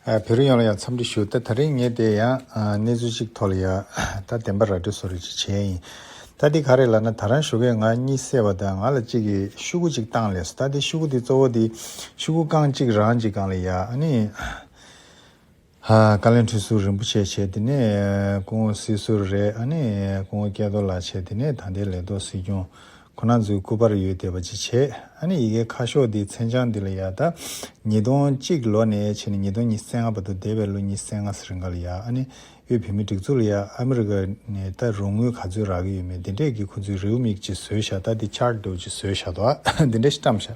བོད་རིགས་ཡོངས་ལ་ཡང་འཚམས་འདྲི་ཞུ་ད་ད་རིང་ངས་དེ་ཡང་གནས་ཚུལ་གཅིག་ཐོག་ལ་ཡོད་ད་བདེན་པ་ར་སྤྲོད་སོ་རེ་ཅིག་བྱས་ཡིན་ད་འདི་ག་རེད་ལ་ན་ད་རང་བཞུགས་ཁས་ང་གཉིད་སད་པ་དང་ང་ལ་གཅིག་གིས་ཤུ་གུ་གཅིག་བཏང་ལས་སོ་ད་འདི་ཤུ་གུ་འདི་གཙོ་བོ་འདི་ཤུ་གུ་རྐང་གཅིག་རང་གཅིག་གང་ལ་ཡག་ཨ་ནི། བཀའ་ལན་ཁྲི་ཟུར་རིན་པོ་ཆེ་བྱས་དེ་ནས་སྐུ་ངོ་སྲིད་ཟུར་རེད་ཨ་ནས་སྐུ་ངོ་སྐལ་རྡོར་ལགས་བྱས་དེ་ནས་ད་ལྟའི་ལས་ཐོག་སྲིད་སྐྱོང་ཁོ་ན་ཚོའི་སྐུ་པར་ཡོད་དེ་བ་ཅི་བྱས་ཨ་ནས་ཡི་གེ་ཁ་ཤོག་འདི་མཚན་བྱང་འདི་ལ་ཡག་ད་ཉིས་སྟོང་གཅིག་ལོ་ནས་བྱས་ནས་ཉིས་སྟོང་ཉིས་སེ་ལྔ་བར་དུ་འདས་པའི་ལོ་ཉིས་སེ་ལྔ་སེར་འགའ་ལ་ཡག་ཨ་ནས་དབུས་བོད་མི་སྒྲིག་འཛུགས་ལ་ཡག་ཨ་མི་རི་ཀ་ནས་ད་རུང་དངུལ་ག་ཚོད་རག་གི་ཡོད་མེད་འདི་འདྲས་ཀྱི་ཁོ་ཚོའི་རེའུ་མིག་ཅིག་བཟོས་ཤག་ད་འདི་ཆགས་སྡོད་ཅིག་བཟོས་ཤག་ད་འདི་འདྲས་བཀྲམས་ཤག་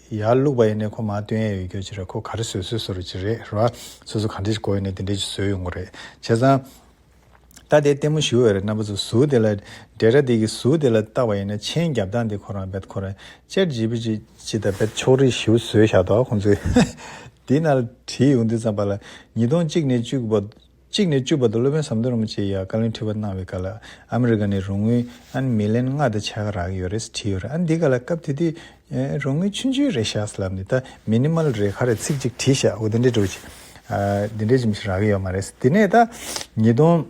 ཡར་བླུགས་པ་ཡིན་ནས་ཁོ་མ་སྟོན་ཡས་ཡོད་རྒྱུ་ཅི་རེད་ཁོ་ག་རེ་བཟོས་བཟོས་བཟོ་རུ་ཅི་རེད་རེད་བ། སོ་སོ་ག་འདྲས་ཀྱི་གོ་ཡོད་ནས་དེ་འདྲས་ཀྱི་བཟོས་ཡོད་མགོ་རེད་བྱས་ཙང། ད་དེ་ལྟད་མོ་ཞུ་འོས་རེད་རྣམ་པ་ཚོ་གཟུགས་དེ་ལ། འདྲེ་ར་དེ་གི་གཟུགས་དེ་ལ་བཏགས་པ་ཡིན་ན་མཆན་རྒྱབ་སྟངས་དེ་ཁོ་རང་རྦད་ཁོ་རང་ཅེར་བྱེད་པོ་ཅིག་ཅི་ད་རྦད་ཕྱོགས་རིས་ཞུ་བཟོས་བཞག་འདུག་ཁོང་ཚོས། དེ་ན་ལ་བྲིས་ཡོང་དུས་ཙམ་པ་ལ་ཉིས་སྟོང་གཅིག་ནས་བཅུ་དགུ་པ། གཅིག་ནས་བཅུ་བར་དུ་སློབ་དཔོན་ཟམ་གདོང་རིན་པོ་ཆེས་ཡང་བཀའ་བློན་ཁྲི་པ་གནང་བའི་སྐབས་ལ་ཨ་མི་རི་ཀ་ནས་རོང་དངུལ་ཨན་མི་ལན་ལྔ་དང་ཆ་ག་རག་ཡོད་རེད་བྲིས་ཡོད་རེད་ཨ་འདི་ག་ལ་སྐབས་དེ་དུས་རོང་དངུལ་ཆུན་ཆུན་རེད་ཤག་ལབ་ནས་ད Minimal རེད་ག་རེད་ཚིག་གཅིག་བྲིས་ཤག་འོ་དེ་འདྲའི་འགྲོ་ཅིག་དེ་འདྲའི་ཅིག་རག་གི་ཡོད་མ་རེད་དེ་ནས་ད་ཉིས་སྟོང་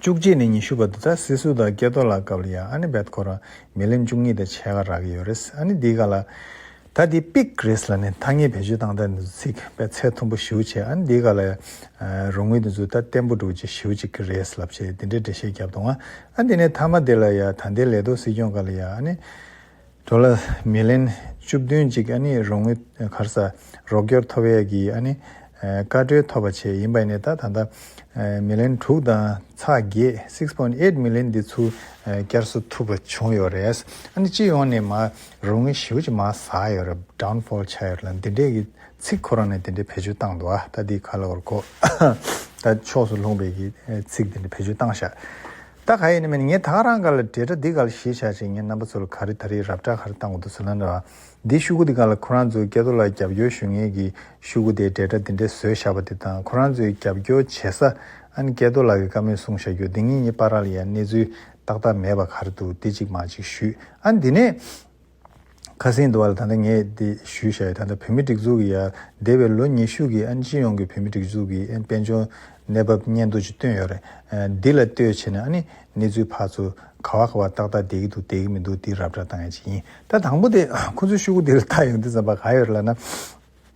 བཅུ་གཅིག་ནས་ཉི་ཤུ་བར་དུ་ད་སི་སུ་དང་སྐལ་རྡོར་ལགས་སྐབས་ལ་ཡང་ཨ་ནི་བེད་ཁོ་རང་མི་ལན་བཅུ་གཉིས་དང་ཆ་ག་རག་ཡོད་རེད་ཨ་ནི་འདི་ག་ལ། ད་འདི་དཔེ་རིས་ལ་ནི་ཐ་སྙད་བེད་སྤྱོད་སྟངས་དང་དུ་ཚིག་པའི་ཚད་མཐོན་པོ་ཞིབ་བྱས་ཨ་ནི་འདི་ག་ལ་རུང་ངུས་དུ་འཛུལ་ད་བརྟན་པོ་འགྲུབ་ཅེས་ཞིབ་ཅིག་རེས་ལབ་བྱས་འདི་འདྲའི་འགྲེལ་བཤད་བརྒྱབ་འདུག་ཨ་འདི་ནི་མཐའ་མ་འདི་ལ་ཡ་ད་འདི་ལས་ལྡོག་སྲིད་སྐྱོང་ག་ལ་ཡ་ཨ་ནི། གྲོ་ལ་མི་ལེན་བཅུ་བདུན་ཅིག་ཨ་ནི་རུང་ངུས་གར་ས་རོགས་སྐྱོར་ཐོབ་ཡས་ཀྱི་ཨ་ནི། བཀའ་གྲོས་ཐོབ་པ་ཆེད་ཡིན་པ་ནི་ད་ད་ད། མི་ལེན་དྲུག་དང་ཚ་བརྒྱད six point eight མི་ལེན་འདི་ཚུར་བསྐྱར་གསོ་ཐུབ་པ་བྱུང་ཡོད་རེད་ཨ་ནི་སྤྱི་ཡོངས་ནས་མ་རོ་ངའི་ཞི་བ་ཅིག་མ་ཟག་ཡོད་རབས Downfall ཆགས་ཡོད་རེད་ལ་འདི་འདྲའི་གི་ཚིག་ཁོ་རང་ནས་དེ་འདྲའི་བེད་སྤྱོད་བཏང་འདུག་ཨ་ད་དེའི་ཁ་ལོ་གོ་ད་ཕྱོགས་སུ་ལྷུང་བའི་གི་ཚིག་དེ་འདྲའི་བེད་སྤྱོད་བཏང་ཤག་ད་ག་ཡིན་ནི་མིན་ངས་ད་ག་རང་ག་ལ་འདྲེ་དྲ་འདི་ག་ལ་ཞེས་བྱ་ཅིག་ངའི་རྣམ་པ་ཚོ་ལ་ག་རི་ད་རི་རབ་དྲ་ག་རི་བཏང་གོ་འདུག་ཟེར་ན་འདྲ་འདིའི་ཤུ་གུ་འདི་ག་ལ་ཁོ་རང་ཚོའི་སྐལ་རྡོ་ལ་རྒྱབ་སྐྱོར་ཞུ་ངེས་གི་ཤུ་གུ་དེས་འདྲེ་དྲ་འདི་འདྲའི་བཟོས་བཞག་པ་དེ་དང་ཁོ་རང་ཚོའི་རྒྱབ་སྐྱོར་བྱེད་ས་ཨ་ནི་སྐལ་རྡོ་ལགས་གི་བཀའ་མོལ་གསུང་བཞག་རྒྱུ་འདི་ངེད་གཉིས་པ་ར་ལ་ཡ་གནས་ཚུལ་ཏག་ཏག་མེད་པ་གར་འདུག་དེ་ཅིག་མ་ཅིག་ཞུས་ཨ་འདི་ནས། ཁ་སེང་འདུག་ཨ་ལ་ད་ལྟ་ངས་དེ་ཞུས་བྱ་ཡོད་ད་ལྟ་བོད་མི་སྒྲིག་འཛུགས་ཀྱི་ཡར་འདས་པའི་ལོ་ཉི་ཤུ་གི་ཨ་སྤྱི་ཡོངས་ཀྱི་བོད་མི་སྒྲིག་འཛུགས་ཀྱི་ཨ་དཔལ་འབྱོར་གནས་བབ་སྙན་ཐོ་ཅིག་བཏོན་ཡོད་རེད་འདི་ལ་ལྟོས་བྱས་ན་ཨ་ནི་གནས་ཚུལ་ཕར་ཚུར་ག་བ་ག་བ་ཏག་ཏག་བསྡད་ཀྱི་འདུག་བསྡད་ཀྱི་མི་འདུག་འདི་རབ་བསྒྲགས་གཏང་ཡས་ཅིག་ཡིན་ད་དང་པོ་དེ་ཁོ་ཚོའི་ཤུགས་ཀུ་དེ་ལ་ལྟ་ཡོང་དུས་ཙམ་པ་ག་ཡོད་རེད་ལ་ན།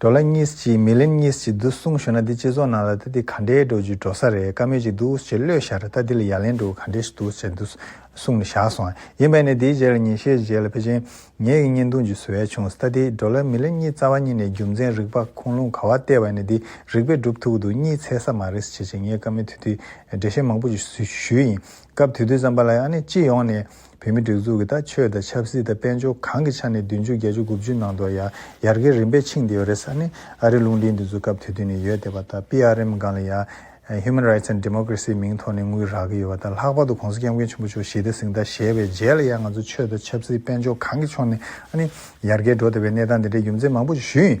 འགྲོ་ལ་གཉིས་ཀྱིས་མི་ལེན་གཉིས་ཀྱིས་འདུག་གསུངས་ཞུ་ན་འདི་སྤྱི་ཚོགས་ནང་ལ་ད་འདི་ག་འདྲའི་འགྲོ་རྒྱུའི་འགྲོ་ས་རེད་བཀའ་མོལ་གྱི་འདུག་ཅེས་བློས་བཞག་རེད་ད་འདི་ལ་ཡ་ལན་འགྲོ་ག་འདྲའི་ཞིག་འདུག་ཅེས་འདུག་གསུངས་ནས་བཞག་སོང་ཡིན་པས་ནི་འདིའི་རྗེས་ལ་ཉིན་ཤས་རྗེས་ལ་ཕལ་ཆེན་ངེད་ཀྱི་བརྙན་ཐུང་བརྒྱུད་བཟོ་ཡས་བྱུང་ད་འདི་འགྲོ་ལ་མི་ལེན་གཉིས་རྩ་བ་གཉིས་ནས་རྒྱུ་མཚན་རིག་པ་ཁུངས་ལུང་ག་བ་བལྟས་པ་ནི་འདི་རིག་པས་འགྲུབ་ཐུག་འདུག་གཉིས་འཚལ་ས་མ་རེད་ཅེས་ངས་བཀའ་མོལ་དུས་དུས་འགྲེལ་བཤད་མང་པོ་ཞིག་ཞུས་ཡིན་སྐབས་དུས་དུས་ཙམ་པ་ལ་ཡང་ནི་སྤྱི་ཡོངས་ནས། བོད་མི་སྒྲིག་འཛུགས་ཀྱི་དང་ཆོས་དང་ཆབ་སྲིད་དང་དཔལ་འབྱོར་གང་གི་ཆ་ནས་བདུན་ཅུ་བརྒྱད་ཅུ་དགུ་བཅུའི་ནང་དུ་ཡང་ཡར་རྒྱས་རིམ་པས་ཕྱིན་བསྡད་ཡོད་རེད་ས་ནི་ཨ་རིའི་རླུང་འཕྲིན་འདི་ཚོའི་སྐབས་དེ་དུས་ནས་ཡོད་བསྡད་པ་དང PRM སྒང་ལ་ཡང Human Rights and Democracy མིང་ཐོག་ནས་དངུལ་རག་གི་ཡོད་བ་དང་ལྷག་པར་དུ་གོང་ས་སྐྱབས་མགོན་ཆེན་པོ་མཆོག་ཞི་བདེ་གཟེངས་རྟགས་བཞེས་པའི་རྗེས་ལ་ཡང་ང་ཚོ་ཆོས་དང་ཆབ་སྲིད་དཔལ་འབྱོར་གང་གི་ཕྱོགས་ནས་ཡར་རྒྱས་འགྲོ་བསྡད་པའི་གནས་སྟངས་དེ་འདྲའི་རྒྱུ་མཚན་མང་པོ་ཞིག་ཞུ་ཡིན།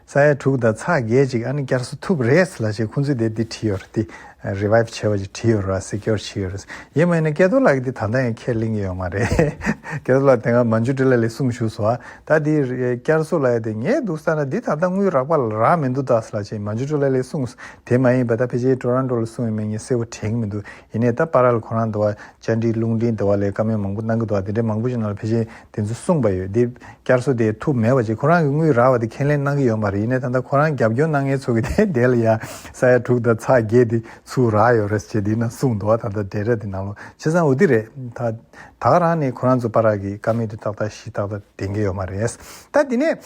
ས་ཡ་དྲུག་དང་ཚགས་བརྒྱད་ཅིག་ཨ་ནི་བསྐྱར་གསོ་ཐུབ་རེད་ལ་ཞེས་ཁོང་ཚོས་དེ་འདི་བྲིས་ཡོད་རེད་དེ། Revive། བྱས་པ་ཞིག་བྲིས་ཡོད་རེད་བ་གཟིགས་སྐྱོར་བྱས་ཡོད་རེད། ཡིན་མ་ཡིན་ན་སྐལ་རྡོར་ལགས་ཀྱིས་དེ་ད་ལྟ་ཡང་ཁས་ལེན་གྱི་ཡོད་མ་རེད། སྐལ་རྡོར་ལགས་དེ་སྔ་མ་འཇུ་འདྲི་ལ་ལས་གསུངས་བཞུགས་སོ། ད་དེ་བསྐྱར་གསོ་ལ་ཡོད་དེ་ངས་འདུག་ས་ན་འདི་ད་ལྟ་དངུལ་རག་པ་ལ་རག་མི་འདུག་ད་ལ་ཞེས་མ་འཇུ་འདྲི་ལ་ལས་གསུངས། དེ་མ་ཡིན་པ་ད་ཕལ་ཆེར Toronto ལ་སོང་བའི་མི་ངན་གསལ་བོ་དྲན་གྱི་མི་འདུག་ཡིན་ནས་ད་པར་ལ་ཁོ་རང་འདི་བ་བཅར་འདྲི་རླུང་འཕྲིན་འདི་བ་ལས་བཀའ་མོལ་མང་པོ་གནང་གི་འདུག་བ་དེ་འདྲའི་མང་པོ་ཞིག་ནང་ལ་ཕལ་ཆེར་དེ་ཚོ་གསུངས་པ་ཡོད་དེ། བསྐྱར་གསོ་དེ་ཐུབ་མེད་བ་ཅིག་ཁོ་རང་གི་དངུལ་རག་བ་དེ་ཁས་ལེན་གནང་གི་ཡོད་མ་རེད་ཡིན་ནས་ད་ལྟ་ཁོ་རང་རྒྱབ་སྐྱོར་གནང་མཁན་ཚོ་གི་དེ་འད་ལ་ཡ་ས་ཡ་དྲུག་དང་ཚགས་བརྒྱད་དེ་ཚུ་རག་ཡོད་རེད་ཅེས་དེ་ནང་གསུངས་འདུག་བ་ད་ལྟ་འད་ར་དེ་ནང་ལོ་ཆེ་སང་འུ་དེ་རེད་ད། དག་རང་ནས་ཁོ་རང་ཚོ་པར་རག་གི་བཀའ་མོལ་དེ་ཏག་ཏག་ཞིག་ཏག་ཏག་དེ་འགེལ་ཡོད་མ་རེད། ད་དེ་ནས།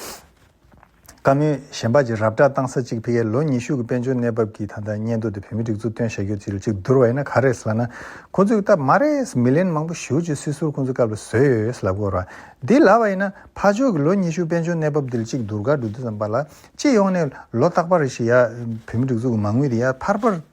བཀའ་མོལ། གཞན་པ་ཅིག་རབ་བསྒྲགས་བཏང་ས་གཅིག་ཕི་ཀའི་ལོ་ཉི་ཤུ་གི་དཔལ་འབྱོར་གནས་བབ་ཀྱི་ད་ལྟ་སྙན་ཐོ་དེ་བོད་མི་སྒྲིག་འཛུགས་སྟོན་བྱ་རྒྱུ་དེ་ལ་གཅིག་བསྡུར་བ་ཡིན་ན་ག་རེད་ཟེར་ལབ་ན། ཁོ་ཚོས་ཀྱི་སྟབས་མ་རེད། མི་ལན་མང་པོ་ཞུ་ཅེས་སྲིད་ཟུར་ཁོ་ཚོའི་སྐབས་ལ་བཟོས་ཡོད་ཟེར་ལབ་དགོས་ར། འདི་ལབ་པ་ཡིན་ན། ཕ་ཆོས་ཀྱི་ལོ་ཉི་ཤུ་དཔལ་འབྱོར་གནས་བབ་དེ་ལ་གཅིག་བསྡུར་ག་འགྲོ་དུས་ཙམ་པ་ལ། སྤྱི་ཡོངས་ནས་ལོ་རྟག་པར་རེ་ཞིག་ཡ། བོད་མི་སྒྲིག་འཛུགས་ཀྱི་མ་དངུལ་དེ་ཡར་འཕར་འཕར།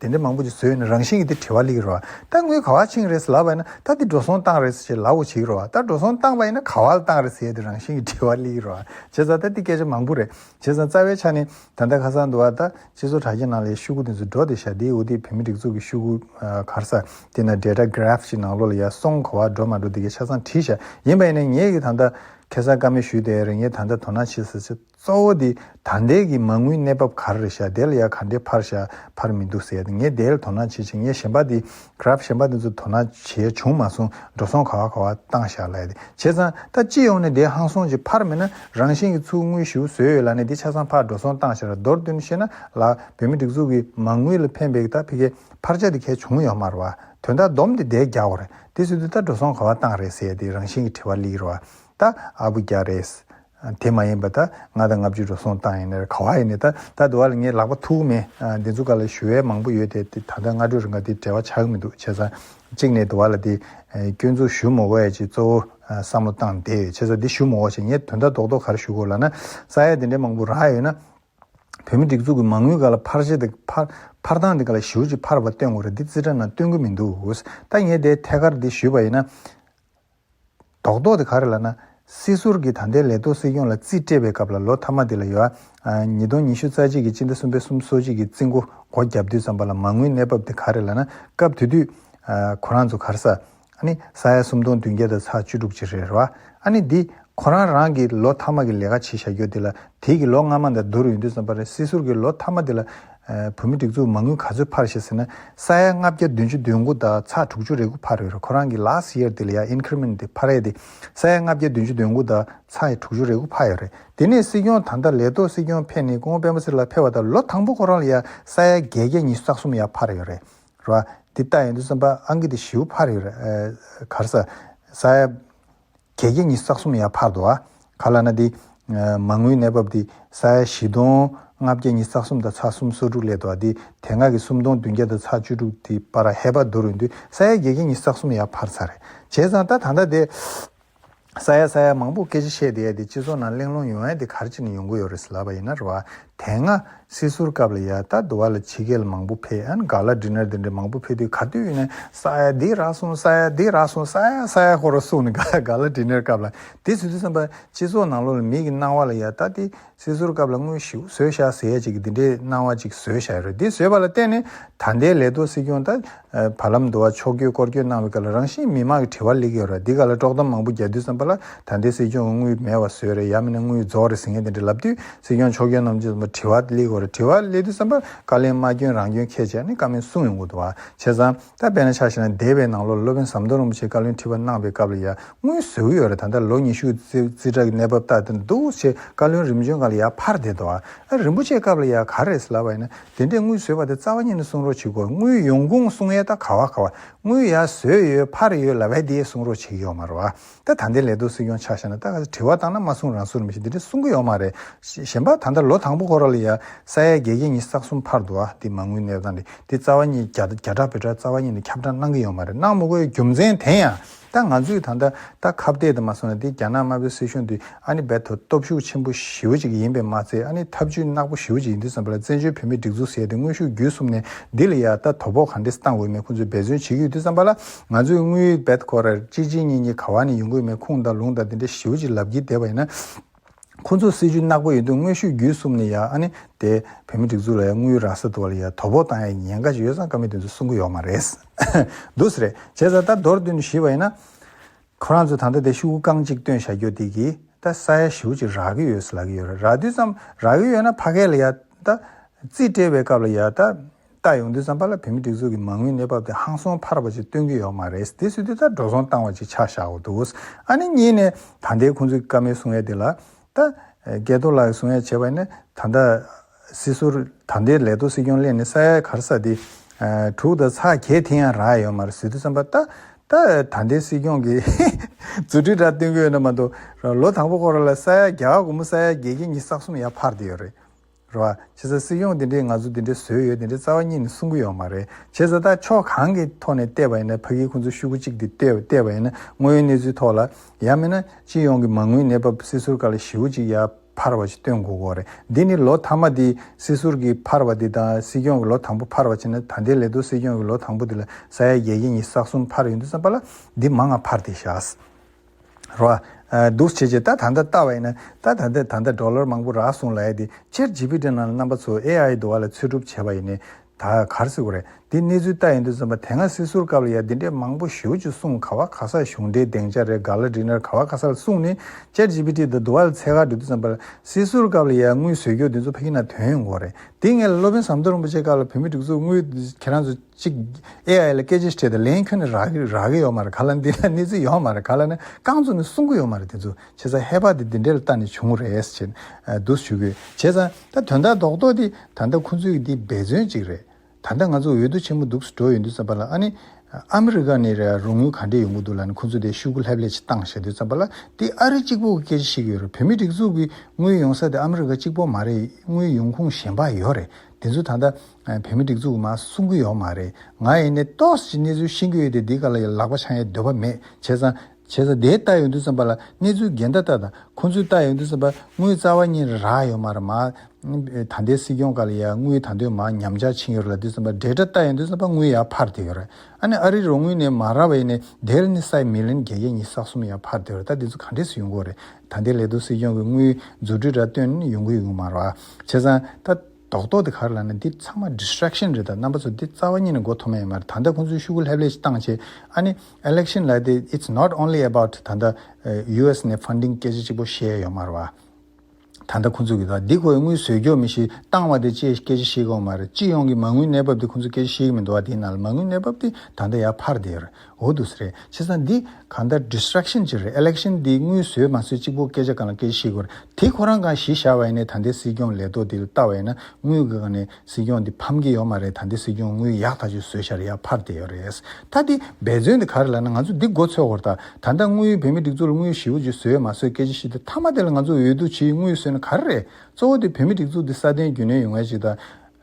དེ་འདྲ་མང་པོ་ཅིག་བཟོས་ནས་རང་བཞིན་གྱིས་དེ་བྲི་བ་ལེགས་རོ། ད་ངུས་ག་བ་ཆིངས་རེད་ལབ་པ་ཡིན་ན་ད་དེ་འགྲོ་སོང་བཏང་རེད་ཅེས་ལབ་བོ་ཆིག་རོ། ད་འགྲོ་སོང་བཏང་པ་ཡིན་ན་ག་བ་ལ་བཏང་རེད་ཟེར་ཏེ་རང་བཞིན་གྱིས་བྲི་བ་ལེགས་རོ། བྱས་ཙང་ད་དེ་སྐད་ཆ་མང་པོ་རེད། བྱས་ཙང་རྩ་བའི་ཆ་ནི་ད་ལྟ་ཁ་སང་དུ་བ་ད་སྤྱི་ཚོགས་དྲ་རྒྱའི་ནང་ལས་ཤུགས་དེ་ཚོ་འགྲོ་སྟེ་ཞྭ་དེའི་འུར་དེ་བོད་མི་སྒྲིག་འཛུགས་ཀྱི་ཤུགས་ཁུ་གར་ས་དེ་ན data graph ཅིག་ནང་ལོགས་ལ་ཡ་སོང་ག་བ་འགྲོ་མ་འགྲོ་དེ་གའི་ཆ་ཚང་བྲིས་ཤ་ཡིན་པ་ཡིན་ན་ངེད་ཀྱིས་ད་ལྟ་ཁེ་སང་ཀ་མེད་ཞུས་ཏེ་རེ་ངེད་ད་ལྟ་དོ་སྣང་བྱེད་ཟེར་ཆ་གཙོ་བོ་དེ་ད་འདས་ཀྱི་མ་དངུལ་གནས་བབ་ག་རེ་བཞག་དེ་ལ་ཡ་ག་འདྲའི་ཕར་བཞག་ཕར་མི་འདུག་ཟེར་ཏེ་ངས་དེ་ལ་དོ་སྣང་བྱེད་ཅིང་ངས་གཞན་པ་དེ Graph གཞན་པ་དེ་ཚོ་དོ་སྣང་བྱས་བྱུང་མ་སོང་འགྲོ་སོང་ག་བ་ག་བ་བཏང་བཞག་ལ་ཡ་དེ་བྱས་ཙང་ད་སྤྱི་ཡོངས་ནས་དེ་ཧང་སོང་ཅིག་ཕར་མེད་ན་རང་བཞིན་གྱི་ཚུར་དངུལ་ཞིག་བཟོས་ཡོད་ལ་ནས་དེ་ཆ་ཚང་ཕར་འགྲོ་སོང་བཏང་བཞག་ལ་མདོར་བསྡུས་ནས་བཤད་ན་ལགས་བོད་མི་སྒྲིག་འཛུགས་ཀྱི་མ་དངུལ་ལ་ཕན་བེད་ད་ཕི་ཀའི་ཕར་བཞག་དེ་གལ་བྱུང་ཡོད་མ་རེད་བ་དོན་དག་སྡོམ་དེ་འདས་རྒྱག་བ་རེད་དེ་སུས་དེ་ལྟར་འགྲོ་སོང་ག་བ་བཏང་རེད་ཟེར་ཏེ་རང་བཞིན་གྱི་དྲི་བ་གླེགས་རེད་བ་ད་ཨ་བུ་རྒྱ་རེད་དེ་མ་ཡིན་པ་ད་ང་ད་ལྔ་བཅུ་འགྲོ་སོང་བཏང་ཡིན་ནར་ག་བ་ཡིན་ནི་ད་ད་དུ་བ་ལ་ངའི་ལག་པ་ཐུག་མེད་འདི་ཚོ་ག་ལ་ཞུ་བའི་མང་པོ་ཡོད་དེ་དེ་ད་ལྟ་སྔ་དྲོ་རི་འགའ་དེ་བྲེལ་བ་ཆག་གི་མི་འདུག་བྱས་ཙང་གཅིག་ནས་དུ་བ་ལ་དེ་སྐྱོན་འཛུགས་ཞུ་མོ་བས་ཅི་གཙོ་བོ་བསམ་བློ་བཏང་བསྡད་ཡོད་བྱས་ཙང་འདི་ཞུ་མོ་བ་ཞིག་ངས་དོན་དག་རྡོག་རྡོག་ག་རེ་ཞུ་དགོས་ལ་ན་ས་ཡ་དེ་འདྲའི་མང་པོ་རག་ཡོད་ན། བོད་མི་སྒྲིག་འཛུགས་ཀྱི་མ་དངུལ་ག་ལ་འཕར་བྱེད་དེ་འཕར་འཕར་སྟངས་དེ་ག་ལ་ཞུར་ཅིག་འཕར་བ་སྟོན་དགོས་རེད་འདི་རྩིས་ཁྲ་ནང་སྟོན་གི་མི་འདུག་འོ་ད་ངས་དེ་ཐད་ཀར་འདི་ཞུས་པ་ཡིན་ན། དོག་དོག་དེ་ག་རེ་ལ་ན། སྲིད་ཟུར་གྱིས་ད་ལྟའི་ལས་ཐོག་སྲིད་སྐྱོང་ལ་རྩིས་སྤྲད་པའི་སྐབས་ལ་ལོ་མཐའ་མ་དེ་ལ་ཡོའ། ཉིས་སྟོང་ཉི་ཤུ་རྩ་གཅིག་གི་སྤྱི་ཟླ་གསུམ་པའི་གསུམ་གསོལ་བྱེད་ཀྱི་རྩིས་མགོ་སྒོ་བརྒྱབ་དུས་ཙམ་པ་ལ་མ་དངུལ་གནས་བབ་དེ་ག་རེ་ལ་ན་སྐབས་དེ་དུས། ཁོ་རང་ཚོ་གར་ས། ནི་ས་ཡ་སུམ་སྟོང་བདུན་བརྒྱ་དང་ཚ་བཅུ་དྲུག་ཅིག་རེད་ར་བ། ཨ་ནི་འདི་ཁོ་རང་རང་གིས་ལོ་མཐའ་མ་གི་ལས་ཀ་བྱེད་བཞག་རྒྱུ་དེ་ལ་དེའི་གི་ལོ་སྔ་མ་འདའ་བསྡུར་ཡོང་དུས་ཙམ་པ་རེད་སྲིད་ཟུར་གྱིས་ལོ་མཐའ་མ་དེ་ལ་བོད་མི་སྒྲིག་འཛུགས་མ་དངུལ་ག་ཚོད་འཕར་ཞེས་ཟེར་ན་ས་ཡ་ལྔ་བརྒྱ་བདུན་ཅུ་དོན་དགུ་དང་ཚགས་དྲུག་ཅུ་རེ་དགུ་འཕར་ཡོད་རེད་ཁོ་རང་གིས last year དེ་ལ་ཡང increment དེ་འཕར་ཡས་དེ་ས་ཡ་ལྔ་བརྒྱ་བདུན་ཅུ་དོན་དགུ་དང་ཚགས་ཡས་དྲུག་ཅུ་རེ་དགུ་འཕར་ཡོད་རེད་དེ་ནས་སྲིད་སྐྱོང་ད་ལྟ་ལས་ཐོག་སྲིད་སྐྱོང་ཕེབས་ནས་སྐུ་ངོ་སྤེན་པ་སི་ལ་ཕེབས་བ་དང་ལོ་དང་པོ་ཁོ་རང་ལ་ཡང་ས་ཡ་བརྒྱད་བརྒྱ་ཉི་ཤུ་རྩ་གསུམ་ཡང་འཕར་ཡོད་རེད་རེད་བ། འདི་ལྟ་ཡོང་དུས་སེམས་པ་ཨང་ཀི་དེ་བཞི་བོ་འཕར་ཡོད་རེད་གར་ས་ཡ། གལ་གྱི་ཉིས་བསགས་སུམ་ཡར་འཕར་དུ་ཨ། ག་ལ་ན་འདི། མ་དངུལ་གནས་བབ་འདི། ས་ཡ་བཞི་སྟོང། ལྔ་བརྒྱ་ཉིས་བསགས་སུམ་དང་ཚ་སུམ་སོ་དྲུག་སླེབས་དུ་ཨ་འདི། དེ་སྔ་གི་སུམ་སྟོང་བདུན་བརྒྱ་དང་ཚ་བཅུ་དྲུག་འདི་པར་ཨ་ཧེ་བ་དོ་རུ་འདི། ས་ཡ་གྱ་གྱ་ཉིས་བསགས་སུམ་ཡར་འཕར་ཚར་རེད། བྱས་ཙང་ད་ད་ལྟ་དེ། ས་ཡ་ས་ཡ་མང་པོ་སྐད་ཆ་བཤད་དེ་ཨ་འདི་སྤྱི་ཚོགས་ནང་གླེང་སློང་ཡོང་ཨ་འདི་གར་ཅིག་ནས་ཡོང་གི་ཡོད་རེད་ཟེར་ལབ་པ་ཡིན་ན་རེད་བ། དེ་སྔ་སྲིད་ཟུར་སྐབས་ལ་ཡ་ད་དུ་བ་ལ་ཕྱི་རྒྱལ་མང་པོ་ཕེ་ཨན་ག་ལ་འདྲི་ནར་འདི་འདྲི་མང་པོ་ཕེ་དུས་ག་དུས་ནས་ས་ཡ་འདི་རག་སོང་ས་ཡ་འདི་རག་སོང་ས་ཡ་ས་ཡ་ཧོ་རོ་སོང་ནས་ག་ལ་ག་ལ་འདྲི་ནར་སྐབས་ལ་དེ་ཚོས་དུས་བསམ་པ་སྤྱི་ཚོགས་ནང་ལོག་ལ་མིག་གི་སྣང་བ་ལ་ཡ་ད་དེ་སྲིད་ཟུར་སྐབས་ལ་དངོས་ཞིག་བཟོས་བཞག་ཟེར་ཡ་ཅིག་གི་འདི་འདྲའི་སྣང་བ་ཅིག་བཟོས་བཞག་ཡོད་རེད་འདི་བཟོས་པ་ལ་བརྟེན་ནས་ད་ལྟའི་ལས་གཏོ་སྲིད་སྐྱོང་ད་བར་ལམ་དུ་བ་ཕྱོགས་བསྐྱོད་སྐོར་བསྐྱོད་གནང་བའི་སྐབས་ལ་རང་བཞིན་མི་མང་གི་དྲི་བ་ལེགས་ཡོད་ར་འདི་ག་ལ་དཀྲོག་གཏམ་མང་པོ་རྒྱག་དུས་བསམ་པ་ལ་ད་ལྟའི་སྲིད་སྐྱོང་དངུལ་མེད་བ་བཟོས་རེད་ཡང་མིན་ན་དངུལ་རྫོགས་རེད་ཟེར་མཁན་དེ་འདྲ་ལབ་དུས་སྲིད་སྐྱོང་ཕྱོགས་སྐྱོད་རྣམས་ཀྱིས་བསམ་པ་དྲི་བ་ལེགས་ཡོད་ར་དྲི་བ་ལེགས་དུས་བསམ་པ་བཀའ་ལན་མ་སྐྱོན་རང་སྐྱོན་ཁས་བྱས་ནས་བཀའ་མོལ་གསུང་ཡོང་གོ་ཐུ་བ་བྱས་ཙང་ད་དཔེ་ན་ཆ་ཞིག་ན་འདས་པའི་ནང་ལོ་ལ་སློབ་དཔོན་ཟམ་གདོང་རིན་པོ་ཆེས་བཀའ་བློན་ཁྲི་པ་གནང་པའི་སྐབས་ལ་ཡང་དངུལ་བཟོས་གི་ཡོད་ར་ད་ལྟ་ལོ་ཉི་ཤུ་རྩིས་ཁྲ་གི་གནས་བབ་ལྟ་དེ་འདུག་བྱས་བཀའ་བློན་རིམ་བྱོན་གང་ལ་ཡང་ཕར་བསྡད་དོ་ཨ་རིན་པོ་ཆེའི་སྐབས་ལ་ཡང་ག་རེ་ཟེར་ལབ་པ་ཡིན་ན་དེ་འདྲས་དངུལ་བཟོས་པ་དེ་རྩ་བ་ཉིད་ནས་སྲུང་རོགས་བྱེད་དགོས་དངུལ་ཡོང་ཁུངས་སྲུང་ཡས་ད་ག་བ་ག་བ་དངུལ་ཡ་བཟོས་ཡོད་ཕར་ཡོད་ལ་བས་དེ་ཡས་སྲུང་རོགས་བྱེད་ཀྱི་ཡོག་མ་རེད་བ་ད་ད་འདའི་ལས་དོ་སྲིད་སྐྱོང་ཆགས་ཤ་ན་ད་ག་དྲི་བ་བཏང་ན་མ་སྲུང་རང་སྲུང་རེད་མི་ཤེས་འདི་འདྲས་སྲུང་གི་ཡོག་མ་རེད་གཞན་པ་ད་འདའ་ལོ་དང་པོ་ཁོ་ར་ལ་ཡ་ས་ཡ་བརྒྱད་བརྒྱད་ཉིས་རྩག་གསུམ་ཕར་འདུ་བ་དེ་མ་དངུལ་གནས་སྟངས་དེ་དེ་རྩ་བ་ཉིད་རྒྱ་རྒྱ་གྲགས་བོད་གྲགས་རྩ་བ་ཉིད་ནས་ཁྱབ་བསྒྲགས་གནང་གི་ཡོག་མ་རེད་གནང་མི་དགོས་རྒྱུ་མཚན་དེ་ཡང་ད་ང་ཚོས་ད་ལྟ་ད་ཁ་བཏད་དུ་མ་སོང་ན་དེ་རྒྱ་ནག་དམར་པོའི་སྲིད་གཞུང་འདི་ཨ་ནི་རྦད་དོ་སྟོབས་ཤུགས་ཆེན་པོ་ཞེའུ་ཅིག་ཡིན་པས་མ་ཚད་ཨ་ནི་ཐབས་ཇུས་གནག་པོ་ཞེའུ་ཅིག་ཡིན་དུས་བསམ་པ་ལ་བཙན་བྱོལ་བོད་མིའི་སྒྲིག་འཛུགས་ཟེར་དེ་དངོས་ཤུགས་བརྒྱུད་གསུམ་ནས་འདི་ལ་ཡ་ད་དོ་ཕོག་གང་འདྲས་བཏང་འོས་མེད་ཁོང་ཚོས་འབད་བརྩོན་བྱེད་ཀྱི་ཡོད་དུས་བསམ་པ་ལ་ང་ཚོས་དངུལ་རྦད་ཁོ་ར་གཅིག་གཅིག་གཉིས་གཉིས་ག་བ་ནས་ཡོང་གི་ཡོད་མེད་ཁུངས་དང་ལུང་དང་དེ་འདྲས་ཞེའུ་ཅིག་ལབ་ཀྱི་བསྡད་པ་ཡིན་ན། ཁོ་ཚོ་སྲིད་ཇུས་ནག་པོ་ཡོད་དུས་དངོས་ཤུགས་བརྒྱུད་གསུམ་ནས་ཡང་ཨ་ནི་དེ་བོད་མི་སྒྲིག་འཛུགས་ལ་ཡང་དངུལ་རང་ས་དུ་བ་ལ་ཡང་དོ་ཕོག་བཏང་ཡ་ཉེན་ཁ་ཞིག་ཡོད་ཙང་ཀ་མེད་དུས་ཚོད་སྲུང་གི་ཡོག་མ་རེད། འདུག་ས་རེད་བྱས་ཙང་ད་མདོར་བསྡུས་ནས་ཞུས་པ་ཡིན་ན། ཁོ་རང་ཚོས་ད་ལྟ་དེ་ཤུ་གུ་རྐང་གཅིག་བཏོན་བཞག་གྱོ་དེ་གི་ད་ས་ཡ་བཞིའུ་ཅིག་རག་གི་ཡོད་ས་ལ་གི་ཡོད་རེད་རག་དུས་ཙམ་རག་གི་ཡོད་ན་ཕ་གས་ལ་ཡ་ད། རྩིས་སྤྲད་པའི་སྐབས་ལ་ཡ་ད། ལྟ་ཡོང་དུས་བསམ་པ་ལ་བོད་མི་སྒྲིག་འཛུགས་ཀྱི་མ་དངུལ་གནས་བབ་དེ་ཧང་སོང་འཕར་བ་ཅིག་སྟོན་གྱི་ཡོག་མ་རེད་དེ་སུས་དེ་ལྟར་འགྲོ་སོང་བཏང་བ་ཅིག་ཆགས་བཞག་གོ་འདུག་ཨ་ནི་གཉིས་ནས་ད་ལྟའི་ཁོང་ཚོའི་ཀ་མའི་གསུང་ཡས་དེ་ལ་ད་རྒྱལ་ཐོ་ལགས་ཀྱི་གསུང་ཡས་བྱས་པ་ནི་ད་ལྟ་སི་སུར་ད་ལྟའི་ལས་ཐོ་སྲིད་སྐྱོང་གླས་ནི་ས་ཡའི་གར་ས་དེ་དྲུག་དང་ཚ་གྱེས་དེ་ཡང་རག་ཡོག་མ་རེད་སུས་དེ་བསམ་པ་ལྟ་ད་ལྟའི་སྲིད་སྐྱོང་གི་རྫུ་འཕྲུལ་དྲག་སྟོན་གྱི་ཡོད་ན་མ་གཏོགས་ལོ་དང་པོ་ཁོ་རང་ལ་ས་ཡ་བརྒྱ་ག་གོ་མོ་ས་ཡ་བརྒྱད་བརྒྱད་གཉིས་བསགས་གསུམ་ཡ་འཕར་དེ་ཡོག་རེད། རེད། བྱས་ཙང་སྲིད་སྐྱོང་དེ་འདྲས་ང་ཚོ་དེ་འདྲས་བཟོས་ཡོད་དེ་འདྲས་རྩ་བ་གཉིས་ནས་གསུང་གི་ཡོད་མ་རེད། བྱས་ཙང་ད་ཕྱོགས་གང་གི་ཐོག་ནས་བལྟས་པ་ཡིན་ན་ཕ་གིའི་ཁོང་ཚོ་ཤུགས་གཅིག་དེ་བལྟས་པ་ཡིན་ན་དངོས་ཡོད་གནས་ཚུལ་ཐོག་ལ། ཡང་མིན་ན་སྤྱི་ཡོངས་ཀྱི་མ་དངུལ་གནས་བབ་སྲིད་ཟུར་ག་ལ་ཞིའུ་གཅིག་ཡར་འཕར་བ་ཞིག་སྟོན་དགོས་དགོས་རེད། འདི་ནི་ལོ་མཐའ་མ་དེ་སྲིད་ཟུར་གྱི་འཕར་བ་དེ་དང་སྲིད་སྐྱོང་གི་ལོ་དང་པོ་འཕར་བ་བྱས་ན་ད་ལྟའི་ལས་དོ་སྲིད་སྐྱོང་གི་ལོ་དང་པོ་དེ་ལ་ས་ཡ་བརྒྱད་བརྒྱད་གཉིས་ས་གསུམ་འཕར་ཡོད་འདུག་བསམ་པ་ལ་འདི་མ་ང་འཕར་དེ་བཞག། རོ། འདུག་བྱེད་ཀྱི་རྟ་ད་ལྟ་བལྟ་བ་ཡིན་ན་རྟ་ད་ལྟའི་ད་ལྟ་འགྲོ་ལོར་མང་པོ་རག་སོང་ལ་ཡ་དེ་ཕྱིར་ཇི་ཕི་ཏྲའི་ནང་ལ་རྣམ་པ་ཚོ་ཨེ་ཨའི་དུ་བ་ལ་འཚོལ་སྒྲུབ་བྱས་པ་ཡིན་ནས་ད་གར་སི་གོ་རེད་འདི་གནས་ཚུལ་ལྟ་ཡིན་དུ་བརྩམས་པ་དེ་སྔ་སི་གསུར་སྐབས་ལ་ཡ་འདི་འདྲས་མང་པོ་ཞུ་ཅུ་གསུངས་ག་བ་ག་ས་གཞུང་འབྲེལ་གདེང་ཆ་རེ་ག་ལ་འགྲིག་ནར་ག་བ་ག་ས་ལ་གསུངས་ནས་ཕྱིར་ཇི་ཕི་ཏྲའི་ད་དུ་བ་ལ་ཚད་ག་འགྲིག་དུ་བརྩམས་པ་ལ་སི་གསུར་སྐབས་ལ་ཡ་དངུལ་བཟོས་རྒྱུ་འདི་ཚོ་ཕ་གི་ན་དོན་ཡོང་གོ་རེད་འདི་ངས་ལོ་པན་ཟམ་གདོང་རིན་པོ་ཆེ་སྐབས་ལ་བོད་མི་སྒྲིག་འཛུགས་དངུལ་ཁྱེད་རང་ཚོ། གཅིག། AI ལ་སྐད་ཆ་བཤད་ད་ལན་ཁྱོད་ནི་རག་གི་རག་གི་ཡོད་མ་རེད་ག་ལ་འདི་ལ་གནས་ཚུལ་ཡོད་མ་རེད་ག་ལ་ནི་རྐང་ཚུགས་ནི་གསུང་གི་ཡོད་མ་རེད་དེ་ཚོ་བྱས་ཙང་ཧེ་བག་དེ་འདི་འདྲས་ལ་ལྟ་ནས་བྱུང་རེད་ཟེར་བྱས་འདུག་ཞུ་གི་བྱས་ཙང་ད་དོན་དག་རྡོག་རྡོག་དེ་ད་ལྟ་ཁོང་ཚོའི་དེ་འབད་བརྩོན་གཅིག་རེད་ད་ལྟ་ང་ཚོ་འོས་བསྡུ་ཆེན་མོ་འདུག་འགྲོ་ཡོད་འདུག་བསམ་པ་ལ་ཨ་ནི་ཨ་མི་རི་ཀ་ནས་རོགས་དངུལ་ག་འདྲས་ཡོང་གི་འདུག་ལ་ནི་ཁོང་ཚོ་དེ་ཤུགས་ཀུ་ལྷེབ་ལྷེབ་ཅིག་བཏང་བྱས་འདུག་བསམ་པ་ལ་དེ་ཨ་རི་གཅིག་པོ་གི་སྐད་ཆ་ཞིག་ཡོད་རེད་བོད་མི་སྒྲིག་འཛུགས་ཀྱི་དངུལ་ཡོང་ས་དེ་ཨ་མི་རི་ཀ་གཅིག་པོ་མ་རེད་དངུལ་ཡོང་ཁུངས་གཞན་པ་ཡོད་རེད་དེ་ཚོ་ད་ལྟ་བོད་མི་སྒྲིག་འཛུགས་ནང་གསུང་གི་ཡོད་མ་རེད་ང་ཡིན་ནའི་ཏོག་ཅིག་གནས་ཚུལ་ཤེས་ཀྱི་ཡོད་དེ་འདི་ག་ལ་ཡི་ལག་པ་འཆང་ཡའི་འདོད་པ་མེད་བྱས་ཙང་བྱས་ཙང་དེའི་ལྟ་ཡོད་འདུག་བསམ་པ་ལ་གནས་ཚུལ་འགལ་ཟླ་ལྟ་དང་ཁོང་ཚོའི་ལྟ་ཡོད་འདུག་བསམ་པ་དངུལ་རྩ་བ་གཉིས་ར་རག་ཡོད་མ་རེད་མ་ད་ལྟའི་སྲིད་སྐྱོང་ག་ལ་ཡ་དངུལ་ད་འདོད་མ་ཉམས་ཆག་ཕྱིན་ཡོད་རེད་ལ་འདུག་བསམ་པ་འབྲེལ་སྒྲ་ལྟ་ཡོད་འདུག་བསམ་པ་དངུལ་ཡ་ཕར་དེད་ཡོད་རེད་ཨ་ནི་ཨ་རིའི་རོགས་དངུལ་ནས་མ་ར་བ་ཡིན་ནའི་དེར་ནི་སའི་མི་ལན་བརྒྱད་བརྒྱ་གཉིས་སག་གསུམ་ཡ་ཕར་དེད་ཡོད་རེད་ད་འདི་ཚོ་ག་འདྲས་སུ་ཡོང་གི་ཡོད་རེད་ད་འདི་ལས་ལྡོག་སྲིད་སྐྱོང་གི་དངུལ་རྫུ་འཕྲུལ་འདྲ་བཏོན་ཡོང་གི་ཡོད་མ་རེད་བྱས་ཙང་ད། རྡོག་རྡོག་དེ་གར་ལ་ནི་འདི་ཚང་མ Distraction རེད་ད་རྣམ་པ་ཚོ་འདི་རྩ་བ་ཉིད་ནས་མགོ་འཐོམ་ཡས་མ་རེད་ད་ལྟ་ཁོང་ཚོས་ཤུ་གུ་ལྷེབ་ལྷེབ་ཅིག་བཏང་རྗེས་ཨ་ནི Election ལ་དེ It's not only about ད་ལྟ US ནས Funding སྐད་ཆ་གཅིག་པོ་བཤད་ཡོད་མ་རེད་བ། ད་ལྟ་ཁོང་ཚོས་གིས་ད་འདི་ཁོའི་དངུལ་ཟོས་འགྱོག་མི་ཞིག་བཏང་བ་དེ་ཅེས་སྐད་ཆ་བཤད་གི་ཡོད་མ་རེད་སྤྱི་ཡོངས་ཀྱི་མ་དངུལ་གནས་བབ་དེ་ཁོང་ཚོས་སྐད་ཆ་བཤད་གི་མི་འདུག་བ་དེས་ན་ལ་མ་དངུལ་གནས་བབ་དེ་ད་ལྟ་ཡར་འཕར་བསྡད་ཡོད་རེད་འོ་དུས་རེད་ཁྱེད་ཚང་འདི་གང་ལྟར distraction ཅིག་རེད election འདི་དངུལ་ཟོས་མ་ཟོས་གཅིག་པོ་སྐད་ཆ་གང་ལ་སྐད་ཤེས་དགོས་རེད་དེ་ཁོ་རང་གང་ཞི་བཞག་བས་ནས་ད་ལྟའི་སྲིད་སྐྱོང་ལས་ཐོག་འདི་ལ་ལྟ་བས་ན་དངུལ་གི་གང་ནས་སྲིད་སྐྱོང་འདི་ཕམ་གི་ཡོད་མ་རེད་ད་ལྟའི་སྲིད་སྐྱོང་དངུལ་ཡག་ཐག་ཆོད་ཟོས་ཤར་ཡག་ཕར་དེ་ཡོད་རེད་ད་འདི་འབད་བརྩོན་འདི་ག་རེད་ལ་ན་ང་ཚོ་འདི་མགོ་འཚོས་གོར་ད་ད་ལྟ་དངུལ་བོད་མི་སྒྲིག་འཛུགས་ལ་དངུལ་ཞི་བོ་ཅིག་ཟོས་མ་ཟོས་སྐད་ཆ་ཤེས་དུས་མཐའ་མ་དེ་ལ་ང་ཚོ་འོས་བསྡུ་ཆེའི་དངུལ་ཟོས་ན་ག་རེ་རེད་གཙོ་བོ་དེ་བོད་མི་སྒྲིག་འཛུགས་འདི་སྲ་བརྟན་རྒྱུན་གནས་ཡོང་ངེས་ཅིག་ད་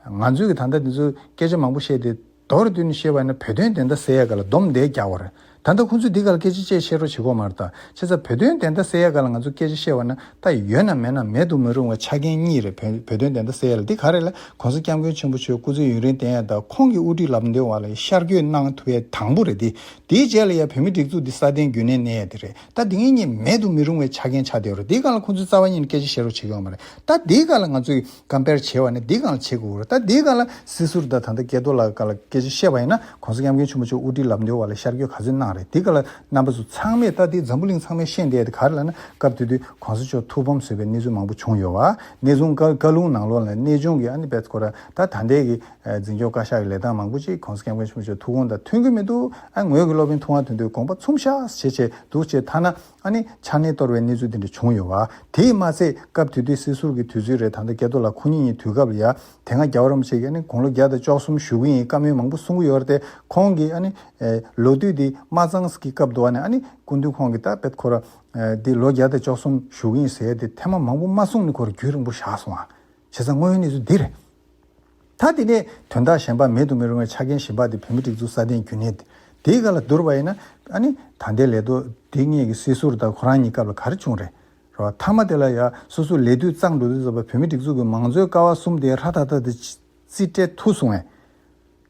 ང་ཚོས་གི་ད་ལྟ་འདི་ཚོ་སྐད་ཆ་མང་པོ་བཤད་དེ། མདོར་བསྡུས་ནས་བཤད་པ་ན་བོད་དོན་བདེན་མཐའ་གསལ་ཡས་ག་ལ་སྡོམ་འདེགས་རྒྱག་བ་རེད། ད་ལྟ་ཁོང་ཚོས་འདི་ག་ལ་སྐད་ཆ་བཅས་བཤད་རོགས་བྱེད་ཁོ་མ་རེད། ཁྱེད་ཚ་བོད་དོན་བདེན་མཐའ་གསལ་ཡས་ག་ལ་ང་ཚོ་སྐད་ཆ་བཤད་བ་ན་ད་ཡོད་ན་མེད་ན་མེད་དུ་མི་རུང་བའི་ཆ་རྐྱེན་གཉིས་རེད་བོད་བོད་དོན་བདེན་མཐའ་གསལ་ཡས་ལ་འདི་ག་རེད་ལ་གོང་ས་སྐྱབས་མགོན་ཆེན་པོ་ཆོས་སྐུ་ཚེ་ཡུན་རིང་བརྟན་ཡས་དང་ཁོང་གི་དབུ་ཁྲིད་ལབ་འདོན་བ་ལ་ཡི་ཤར་བསྐྱོད་གནང་ཐུབ་པའི་དང་པོ་རེད་དེ་དེའི་རྗེས་ལ་ཡས་བོད་མི་སྒྲིག་འཛུགས་འདི་སྲ་བརྟན་རྒྱུན་གནས་གནས་ཡས་དེ་རེད་ད་འདི་ངེད་གཉིས་མེད་དུ་མི་རུང་བའི་ཆ་རྐྱེན་ཆགས་བསྡད་རོགས་འདི་ག་ལ་ཁོང་ཚོས་རྩ་བ་ཉིད་ནས་སྐད་ཆ་བཤད་རོགས་བྱེད་ཁོ་མ་རེད་ད་འདི་ག་ལ་ང་ཚོས་གང་དཔེར་བྱས་བ་ནི་འདི་གང་ལ་བྱེད་དགོས་རུང་ད་འདི་གང་ལ་སྲིད་ཟུར་དང་ད་ལྟ་སྐལ་རྡོར་ལགས་ག་ལ་སྐད་ཆ་བཤད་པ་ཡིན་ན་གོང་ས་སྐྱབས་མཁན་ཆེན་པོ་མཆོག་དབུ་ཁྲིད་ལབ་འདོད་བ་ལ་ཤར་སྐྱོད་ག་ཚོད་གནང་རེད་འདི་ག་ལ་རྣམ་པ་ཚོ་ཚང་མས་ད་འདི་འཛམ་བུ་གླིང་ཚང་མས་ཤེས་བསྡད་དེ་ག་རེ་ལ་ན་སྐབས་དེ་དུས་གོང་ས་མཆོག་ཐུགས་ཕམ་བཟོས་པའི་གནས་ཚུལ་མང་པོ་བྱུང་ཡོད་བ་གནས་ཚུང་ཀ་བཀའ་ལུང་ནང་ལོག་ལ་གནས་ཆུང་གི་ཨ་ནི་པད་སྐོར་ད་ད་འདས་ཀྱི་འཛིན་སྐྱོང་བཀའ་ཤག་གི་ལས་སྟངས་མང་པོ་ཅིག་གོང་ས་སྐྱབས་མཁན་ཆེན་པོ་མཆོག་ཐུགས་དགོངས་དང་མཐུན་གི་མི་འདུག་ཨ་ངོས་ཀྱི་སློབ་དཔོན་ཐུགས་ངག་དོན་དུ་དགོངས་པ་ཚུམ་ཤགས་བྱེད་ཆེད་དུ་ཆེ་ཐ་ན་ཨ་ནི་ཆ་ནས་གཏོར་བའི་གནས་ཚུལ་དེ་འདྲ་བྱུང་ཡོད་བ། དེས་མ་ཚད་སྐབས་དེ་དུས་སྲིད་ཟུར་གྱི་དུས་ཚོད་རེད་ད་ལྟ་སྐལ་རྡོ་ལགས་ཁོང་ཉིད་ཉིད་དུས་སྐབས་ལ་ཡ་དེ་སྔ་རྒྱ་བ་རོམ་ཞིག་གིས་ཨ་ནི་དགུང་ལོ་བརྒྱ་དང་བཅོ་གསུམ་བཞུགས་ཀྱི་ཡིན་བཀའ་མོལ་མང་པོ་གསུང་གི་ཡོད་རེད་དེ་ཁོང་གིས་ཨ་ནི། ལོ་དུས་དེ་མ་ཙང་སི་ཀི་སྐབས་དུ་བ་ནས་ཨ་ནི་སྐུ་མདུན་ཁོང་གིས་ད་བེད་ཁོ་ར། འདི་ལོ་བརྒྱ་དང་བཅོ་གསུམ་བཞུགས་ཀྱི་ཡིན་ཟེར་ཏེ་ཐེངས་མ་མང་པོ་མ་གསུང་ནས་ཁོ་ར་རྒྱུད་རིང་པོ་བཞག་སོང་བ། བྱས་ཙང་དངོས་ཡོད་གནས་ཚུལ་འདི་རེད། ད་དེ་ནས་དོན་དག་གཞན་པ་མེད་དུ་མི་རུང་བའི་ཆ་རྐྱེན་གཞན་པ་དེ་བོད་མི་སྒྲིག་འཛུགས་སྲ་བརྟན་རྒྱུན་གནས་དེའི་སྐབས་ལ་བསྡུར་བ་ཡིན་ན། ཨ་ནི། ད་ལྟའི་ལས་དོ་དེ་སྔས་ཀྱི་སྲིད་ཟུར་དང་ཁོ་རང་གཉིས་སྐབས་ལ་གར་བྱུང་རེད། རེད་བ། ཐ་མ་དེ་ལ་ཡ་སོ་སོའི་ལས་དུས་གཙང་འགྲོ་དུས་ཟབ་པ་བོད་མི་སྒྲིག་འཛུགས་ཀྱི་མང་གཙོའི་ཀ་བ་གསུམ་དེ་ཧྲ་ཐག་ཐག་དེ་རྩིས་སྤྲད་ཐུགས་སོང་བས།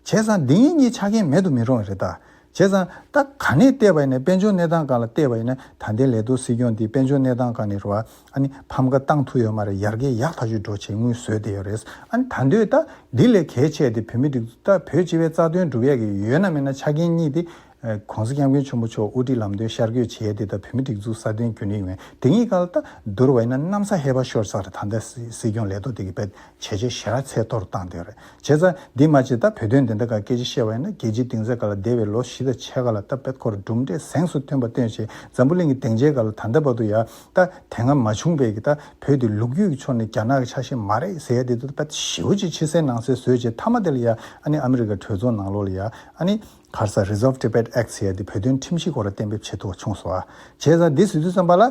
བྱས་ཙང་འདི་ངེད་གཉིས་ཆ་རྐྱེན་མེད་དུ་མི་རུང་བ་རེད་ད། བྱས་ཙང་ད་ག་ནས་བལྟས་པ་ཡིན་ན་དཔལ་འབྱོར་གནས་སྟངས་གང་ལ་བལྟས་པ་ཡིན་ན་ད་ལྟའི་ལས་གཏོད་སྲིད་སྐྱོང་འདིས་དཔལ་འབྱོར་གནས་སྟངས་གང་ནས་རུ་བ་ཨ་ནི་ཕམ་ཁ་བཏང་ཐུབ་ཡོད་མ་རེད་ཡར་རྒྱས་ཡག་ཐག་ཆོད་འགྲོ་བྱེད་དངུལ་བཟོས་བསྡད་ཡོད་རེད་ཨ་ནི་ད་འདོད་ད་འདི་ལས་གལ་ཆེ་དེ་བོད་མི་རིགས་ཚོ་ད་བོད་སྤྱི་བའི་རྩ་དོན་སྒྲུབ་ཡག་གི་ཡོད་ན་མེད་ན་ཆ་རྐྱེན་གཉིས་དེ། གོང་ས་སྐྱབས་མགོན་ཆེན་པོ་མཆོག་དབུ་ཁྲིད་ལམ་སྟོན་ཤར་བསྐྱོད་བྱས་དེ་ད་བོད་མི་སྒྲིག་འཛུགས་སྲ་བརྟན་རྒྱུན་རིང་ཡོང་ཡ་དེ་གཉིས་གང་ལ་ད་བསྡུར་བ་ཡིན་ན་གནམ་ས་ཧེ་བག་ཤོར་ཚར་རེད་ད་ལྟའི་སྲིད་སྐྱོང་ལས་གཏོད་དེ་གི་བལྟས་བྱས་རྗེས་ཞེ་རགས་ཚད་མཐོར་བཏང་སྟེ་རེད། བྱས་ཙང། འདིས་མ་བྱས་ད་བོད་དོན་འདི་འདྲ་ག་སྐད་ཅིག་བཤད་པ་ཡིན་ན་རྒྱལ་སྤྱིའི་སྡིངས་ཆ་ག་ལ་བདེ་བའི་ལོ་བཞི་དང་ཕྱེད་ཀ་ལ་ད་པད་ཁོར་གྲུབ་འབྲས་གཟེངས་སུ་ཐོན་པ་སྟོན་བྱས་འཛམ་བུ་གླིང་གི་སྡིངས་ཆའི་ག་ལ་ད་ལྟ་བར་དུ་ཡ། ད། དེ་སྔ་མ་བྱུང་བས་ཀྱི་ད་བོད་དེ་ལུག་རྒྱུད་ཀྱི་ཕྱོགས་ནས་རྒྱ་ནག་གི་ཆ་ཤས་མ་རེད་ཟེར་ཡ་དེ་དུ་ད་པད་ཞི་བོ་ཅིག་ཕྱི་གསལ་ནང་གསལ་བཟོས་བྱས་ཐ་མ་དེ་ལ་ཡ། ཨ་ནི་ཨ་མི་རི་ཀ་གྲོས་ཚོགས་ནང་ལོགས་ལ་ཡ། ཨ་ནི། བྷར་ས Resolve Tibet Act ཟེར་ཡ་དེ་བོད་དོན་ཁྲིམས་གཞི་སྐོར་ལ་གཏན་འབེབས་བྱེད་ཐུབ་པ་བྱུང་སོ། བྱས་ཙང་འདི་ཟེར་དུས་བསམ་པ་ལ།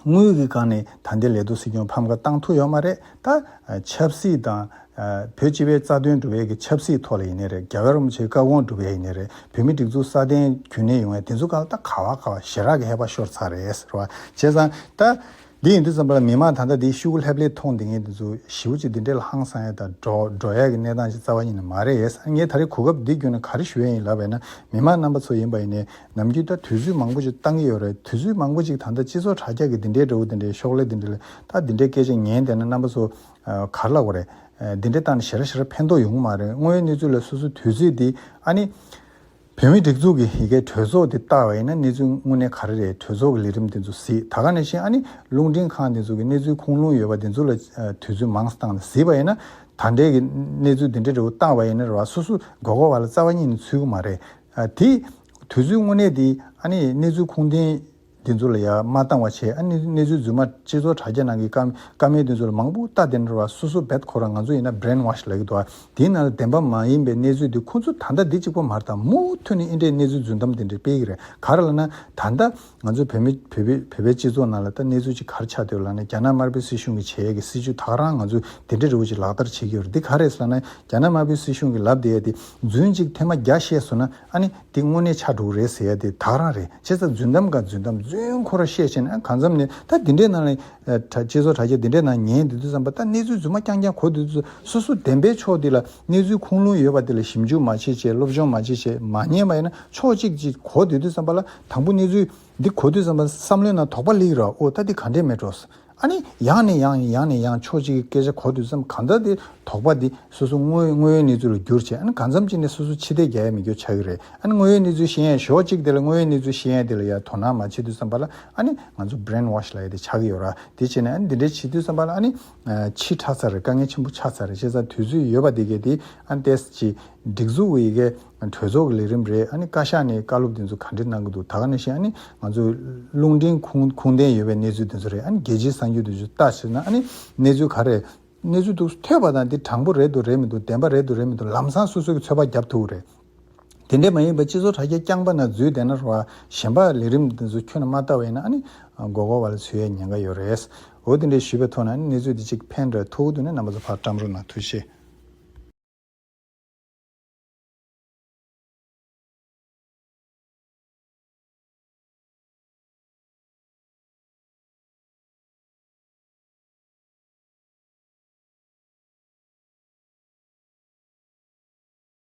དངུལ་གྱི་སྒང་ནས་ད་ལྟའི་ལས་དོ་སྲིད་སྐྱོང་ཕམ་ཁ་བཏང་ཐུབ་ཡོད་མ་རེད་ད། ཆབ་སྲིད་དང། བོད་སྤྱི་བའི་རྩ་དོན་སྒྲུབ་ཡས་ཀྱི་ཆབ་སྲིད་ཐོག་ལ་ཡིན་ནི་རེད་རྒྱ་གར་རུམ་བྱེད་སྐར་གོང་སྒྲུབ་ཡས་ཡིན་ནི་རེད་བོད་མི་སྒྲིག་འཛུགས་སྲ་བརྟན་རྒྱུན་གནས་ཡོང་ཡས་དེ་ཚོ་གང་ད་ག་བ་ག་བ་ཞེ་རག་གི་ཧད་པ་ཤོར་ཚར་རེད་ཟེར་བ་བྱས་ཙང་ད། འདི་ཡིན་དུས་ཙམ་པ་ལ་མི་མང་ད་ལྟ་འདི་ཤུ་གུ་ལྷེབ་ལྷེབ་མཐོང་འདི་ངས་འདི་ཚོ་ཞི་བོ་ཅིག་འདི་འདྲའི་ལ་ཧང་སང་ཡས་དང་འགྲོ་ཡས་ཀྱི་གནས་སྟངས་ཅིག་རྩ་བ་ཉིད་ནས་མ་རེད་ངས་ད་རེས་གོ་སྐབས་འདི་བརྒྱུད་ནས་ག་རེ་ཞུ་ཡས་ཡིན་ལབ་པས་ན་མི་མང་རྣམ་པ་ཚོ་ཡིན་པ་ཡིན་ནས་ནམ་རྒྱུན་ད་དུས་ཚོད་མང་པོ་ཅིག་བཏང་གི་ཡོད་རེད་དུས་ཚོད་མང་པོ་ཅིག་ད་ལྟ་སྤྱི་ཚོགས་དྲ་རྒྱ་གི་འདི་འདྲའི་འདྲ་བོ་འདི་འདྲའི་ཤོག་ལེ་འདི་འདྲ་ལས་ད་འདི་འདྲའི་སྐད་ཆ་ཉན་བསྡད་ན་རྣམ་པ་ཚོ་གར་ལ་གོ་རེད། འདི་འདྲའི་སྟངས་ནས་ཞེ་ར་ཞེ་ར་ཕན་ཐོགས་ཡོང་གི་མ་རེད་དངོས་ཡོད་གནས་ཚུལ་ལ་སོ་སོའི་དུས་ཚོད་འདི་ཨ་ནི། བོད་མིའི་སྒྲིག་འཛུགས་ཀྱི་ཡི་གེ་གྲོས་ཚོགས་འདི་ལྟ་བ་ཡིན་ན་གནས་ཚུལ་དངོས་གནས་ག་རེ་རེད་གྲོས་ཚོགས་ཀྱི་ལས་རིམ་འདི་ཚོ་གཟིགས་ད་ག་ནས་ཤེས་ཨ་ནི་རླུང་འཕྲིན་ཁང་འདི་ཚོ་གི་གནས་ཚུལ་ཁུངས་ལུང་ཡོད་པ་འདི་ཚོ་ལ་དུས་ཚོད་མང་སྟངས་ནས་གཟིགས་པ་ཡིན་ན་ད་འདྲའི་གནས་ཚུལ་འདི་འདྲའི་འདྲ་བོ་བཏང་བ་ཡིན་ན་ར་སོ་སོའི་མགོ་སྐོར་བ་ལ་རྩ་བ་ཉིད་ནས་ཚུད་གི་མ་རེད་དེས་དུས་ཚོད་དངོས་གནས་དེ་གནས་ཚུལ་ཁུངས་ལྡན་འདི་ཚོ་ལ་ཡང་མ་བཏང་བ་བྱས་གནས་ཚུལ་རྫུན་མ་སྤྱི་ཚོགས་དྲ་རྒྱ་ནང་གི་སྐར་མའི་དོན་ཚོ་ལ་མང་པོ་ལྟ་དེ་འདྲ་བ་སོ་སོ་བེད་ཁོ་རང་ང་ཚོ་ཡིན་ན Brain Wash ལགས་འདུག་དེའི་ནང་ལ་བདེན་པ་མ་ཡིན་པའི་གནས་ཚུལ་དེ་ཁོ་ཚོ་ད་ལྟ་འདི་གཅིག་པོ་མར་དང་མུ་མཐུད་ནས་ཨིན་དྲའི་གནས་ཚུལ་རྫུན་གཏམ་དེ་འདྲ་སྤེལ་གི་རེད་ག་རེ་ལ་ན་ད་ལྟ་ང་ཚོ་བོད་མི་བོད་པའི་བོད་པའི་སྤྱི་ཚོགས་ནང་ལ་ད་གནས་ཚུལ་ཅིག་གར་ཆགས་འདུག་ལགས་ན་རྒྱ་ནག་དམར་པོའི་སྲིད་གཞུང་གི་བྱས་ཡས་ཀྱི་སྲིད་བྱུས་དག་རང་ང་ཚོས་དེ་འདྲའི་རི་བོ་ཅིག་ལག་བསྟར་བྱེད་ཀྱི་ཡོད་རེད་འདི་ག་རེད་ལགས་ན་རྒྱ་ནག་དམར་པོའི་སྲིད་གཞུང་གི་ལབ་བསྡད་ཡས་དེ་རྫུན་གཅིག་ཐེངས་མ་བརྒྱ་བཤད་བཟོ་ན་ཨ་ནི་དེ་དངོས་གནས་ཆགས་འགྲོ་གི་རེད་ཟེར་ཡས་དེ་དག་རང་རེད་བྱས་ཙང་རྫུན་གཏམ་འགའ་རྫུན་གཏམ་རྫུན་ཁོ་ར་བཤད་བྱས་ན་ཨ་གང་མཚམས་ནས་ད་འདི་འདྲའི་ནང་ལ་དྲ་སྤྱི་ཚོགས་དྲ་རྒྱ་འདི་འདྲའི་ནང་ཉན་འདི་དུས་བསམ་པ་ད་གནས་ཚུལ་རྫུན་མ་རྐྱང་རྐྱང་གོ་འདི་དུས་སོ་སོ་བདེན་པའི་ཕྱོགས་འདི་ལ། གནས་ཚུལ་ཁུངས་ལུང་ཡོད་པ་དེ་ལ་ཞིབ་འཇུག་མ་བྱེད་ཆེད་སློབ་སྦྱོང་མ་བྱེད་ཆེད་མ་ཉན་པ་ཡིན་ན་ཕྱོགས་གཅིག་གཅིག་གོ་དུས་དུས་བསམ་པ་ལ་དང་པོ་གནས་ཚུལ་འདི་གོ་དུས་བསམ་པ་བསམ་བློའི་ནང་དོགས་པ་ལེགས་ར་ཨོ་ད་འདི་ག་འདྲའི་མེད་འགྲོ་ཟེར་ཨ་ནི་ཡང་ནས་ཡང་ཡིན་ཡང་ནས་ཡང་ཕྱོགས་གཅིག་གི་སྐད་ཆ་གོ་དུས་བསམ་གང་ལྟར་དེ་དོགས་པ་འདི་སོ་སོ་དངོས་དངོས་ཡོད་གནས་ཚུལ་ལ་བསྒྱུར་ཆེད་ཨ་ནི་གང་འཚམ་གཅིག་ནས་སོ་སོ་ཕྱི་བལྟས་རྒྱ་ཡ་མི་འགྱོ་ཆགས་ཀྱི་རེད་ཨ་ནི་དངོས་ཡོད་གནས་ཚུལ་ཤེས་ཡས་ཞོག་གཅིག་དེ་ལ་དངོས་ཡོད་གནས་ཚུལ་ཤེས་ཡས་དེ་ལ་ཡར་དོ་སྣང་མ་བྱེད་དུས་བསམ་པ་ལ་ཨ་ནི་ང་ཚོ brain wash ལ་ཡ་དེ་ཆགས་ཀྱི་ཡོད་ར་དེ་བྱེད་ནས་ཨ་ནི་འདི་འདྲའི་བྱེད་དུས་བསམ་པ་ལ་ཨ་ནི། ཕྱིས་ཁྲག་ཚ་རེར་དཀའ་ངལ་ཆེན་པོ་ཆགས་ཚར་རེད་བཤད་ཚར་དུས་ཚོད་ཡོད་པ་དེ་གས་དེ་ཨ་ཏེས་ཀྱི་སྒྲིག་འཛུགས་འི་གེ་གྲོས་ཚོགས་ཀྱི་ལས་རིམ་རེད་ཨ་ནི་བཀའ་ཤག་ནས་བཀའ་སློབ་དེ་ཚོ་ག་འདྲི་གནང་གི་འདུག་ད་ག་ནས་བཤད་ཨ་ནི་ང་ཚོ་རླུང་འཕྲིན་ཁུངས་ཁུངས་ལྡན་ཡོད་པའི་གནས་ཚུལ་དེ་ཚོ་རེད་ཨ་ནི་རྒྱལ་སྤྱིའི་གསར་འགྱུར་དེ་ཚོ་ལྟ་ཟེར་ན་ཨ་ནི་གནས་ཚུལ་ག་རེད་གནས་ཚུལ་དུ་ཐོས་པ་དང་དེ་དྲང་པོ་རེད་འདུག་རེད་མི་འདུག་བདེན་པ་རེད་འདུག་རེད་མི་འདུག་ལམ་སང་སོ་སོ་གི་ཚོད་དཔག་རྒྱབ་ཐུབ་རེད། དེ་འདྲས་མ་ཡིན་པར་སྤྱི་ཚོགས་དྲ་རྒྱ་རྐྱང་པ་ན་འཛུལ་བསྡད་ན་རོ། གཞན་པ་ལས་རིམ་དེ་ཚོ་ཁྱོན་ན་མ་ལྟ་བས་ན་ནི་མགོ་སྐོར་བ་ལ་ཚུད་ཡའི་ཉེན་ཁ་ཡོད་རེད། འོ་དེ་འདྲས་ཞུས་པའི་ཐོག་ན་ནི་གནས་ཚུལ་འདི་གཅིག་ཕན་དྲག་ཐུག་དུས་ན་རྣམ་པ་ཚོ་ཕར་བཀྲམ་རོགས་གནང་ཐུགས་ཆེ།